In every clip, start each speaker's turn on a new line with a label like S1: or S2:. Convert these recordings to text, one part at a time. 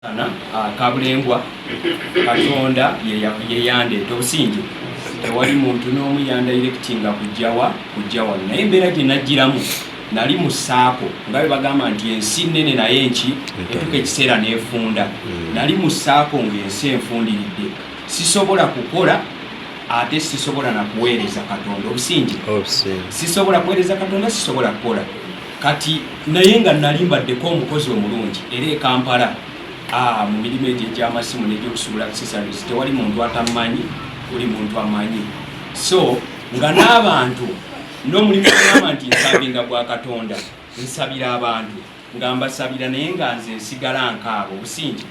S1: Ah, kabulengwa katonda yeyandeeta obusinge tewali muntu n'omu yandairekitinga kujjawa kujjawa naye embeera gye najjiramu nali mu saako nga bwe bagamba nti ensi nnene naye nki etuka ekiseera n'efunda hmm. nali mu saako ng'ensi enfundiridde sisobola kukola ate sisobola na kuweereza katonda obusinge sisobola kuweereza katonda sisobola kukola Kati naye nga nali mbaddeko omukozi omulungi era e Kampala ah, mu mirimu egyo egy'amasimu n'egyokusuubula accessories tewali muntu atammanyi, buli muntu amanyi. So nga n'abantu n'omulimu ogamba nti nsabinga gwa Katonda, nsabira abantu nga mbasabira naye nga nze nsigala nkaaba obusingi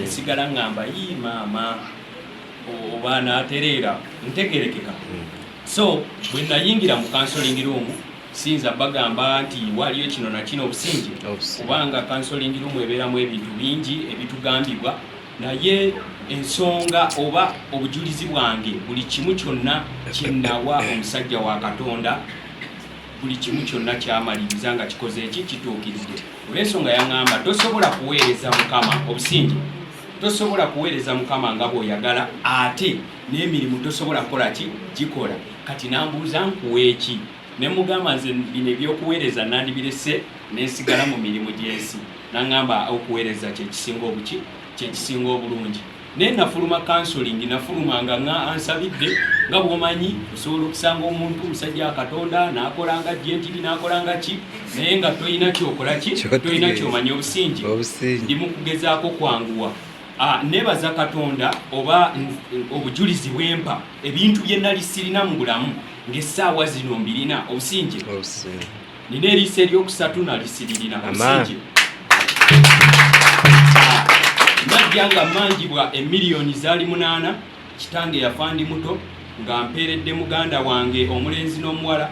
S1: nsigala ngamba yi maama oba natereera ntegerekeka hmm. so bwe nayingira mu kansolingi ruumu Sinza bagamba nti waliyo kino na kino obusinge kubanga kansolingi lumu ebeeramu ebintu bingi ebitugambibwa naye ensonga oba obujulizi bwange buli kimu kyonna kyenawa omusajja wa katonda buli kimu kyonna kyamaliriza nga kikoze eki kituukiridde olwensonga yaŋŋamba tosobola kuweereza mukama obusinge tosobola kuweereza mukama nga bw'oyagala ate n'emirimu tosobola kukola ki gikola kati nambuuza nkuweeki ne mugamba nze bino ebyokuweereza nandibirese nensigala mu mirimu gyensi nangamba okuweereza kyekisinga obuki kyekisinga obulungi naye nafuluma kansolingi nafuluma nga nga ansabidde nga bwomanyi osobola okusanga omuntu omusajja katonda nakola nga jentiri nakola nga ki naye nga tolina kyokola ki tolina kyomanya obusingi ndi mukugezaako kwanguwa Ah, nebaza katonda oba obujulizi bwempa ebintu bye nali sirina mu bulamu ng'essaawa zino mbirina obusinje nina eriisa eryokusatu nali siririna obusinje ah, najja nga manjibwa emiliyoni zaali munaana kitange yafa ndi muto nga mpeeredde muganda wange omulenzi n'omuwala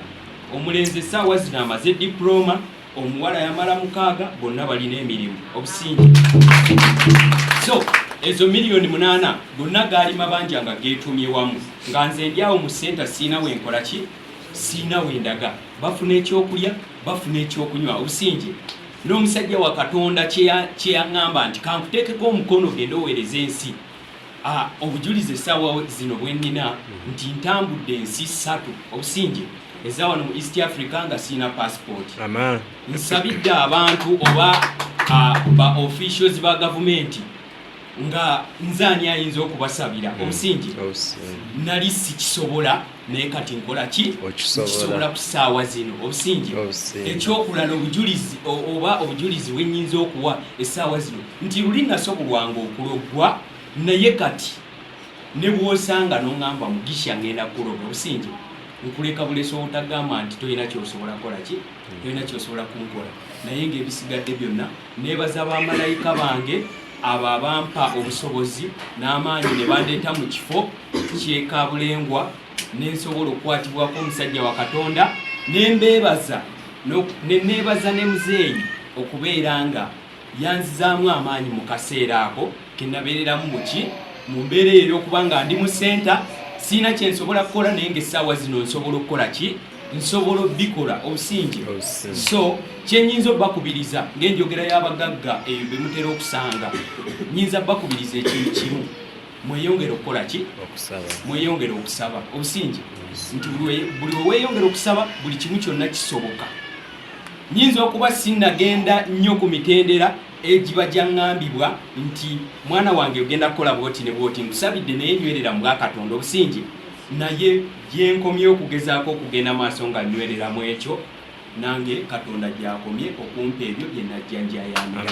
S1: omulenzi essaawa zino amaze dipulooma omuwala yamala mukaaga bonna balina emirimu obusingi so ezo miliyoni munaana gonna gaali mabanja nga geetumye wamu nga nze ndi awo mu senta siina wenkola ki siina wendaga bafuna ekyokulya bafuna ekyokunywa obusingi n'omusajja wa katonda kyeyaŋŋamba nti kankuteekeko omukono genda oweereza ensi Ah, obujulizi essaawa zino bwe nnina nti ntambudde ensi ssatu obusingi eza wano mu east africa nga sirina passport nsabidde abantu oba ah, ba officials ba gavumenti nga nze ani ayinza okubasabira mm. obusingi nali sikisobola naye kati nkola ki kisobola ku ssaawa zino obusingi ekyokulala obujulizi oba obujulizi wenyinza okuwa essaawa zino nti luli nasobolwanga okuloggwa naye kati nebwosanga nongamba mugisha ngenda kuloga obusingi nkuleka bulesa obutagamba nti tolina kyosobola kukola ki tolina kyosobola kunkola naye ngaebisigadde byonna Neebaza bamalayika bange abo abampa obusobozi n'amaanyi ne bandeeta mu kifo ky'e Kabulengwa ne nsobola okukwatibwako omusajja wa Katonda ne mbeebaza ne neebaza ne muzeeyi okubeera nga yanzizaamu amaanyi mu kaseera ako. kenabeereramu muki mu mbeera eyo eyokuba nga ndi mu senta siina kyensobola kukola naye nga essaawa zino nsobola okukola ki nsobola obikola obusingi so kyenyinza obakubiriza ngaenjogera y'abagagga eyo bemutera okusanga nyinza bakubiriza ekintu kimu mweyongere okukola ki mweyongere okusaba obusingi nti buli weweyongere okusaba buli kimu kyonna kisoboka nyinza okuba sinagenda nnyo ku mitendera egiba gyaŋŋambibwa nti mwana wange ogenda kukola bwoti ne bwoti nkusabidde naye nywerera mu bwakatonda obusingi naye gyenkomye okugezaako okugenda maaso nga nywerera mu ekyo nange katonda gyakomye okumpa ebyo byenajjanjayamira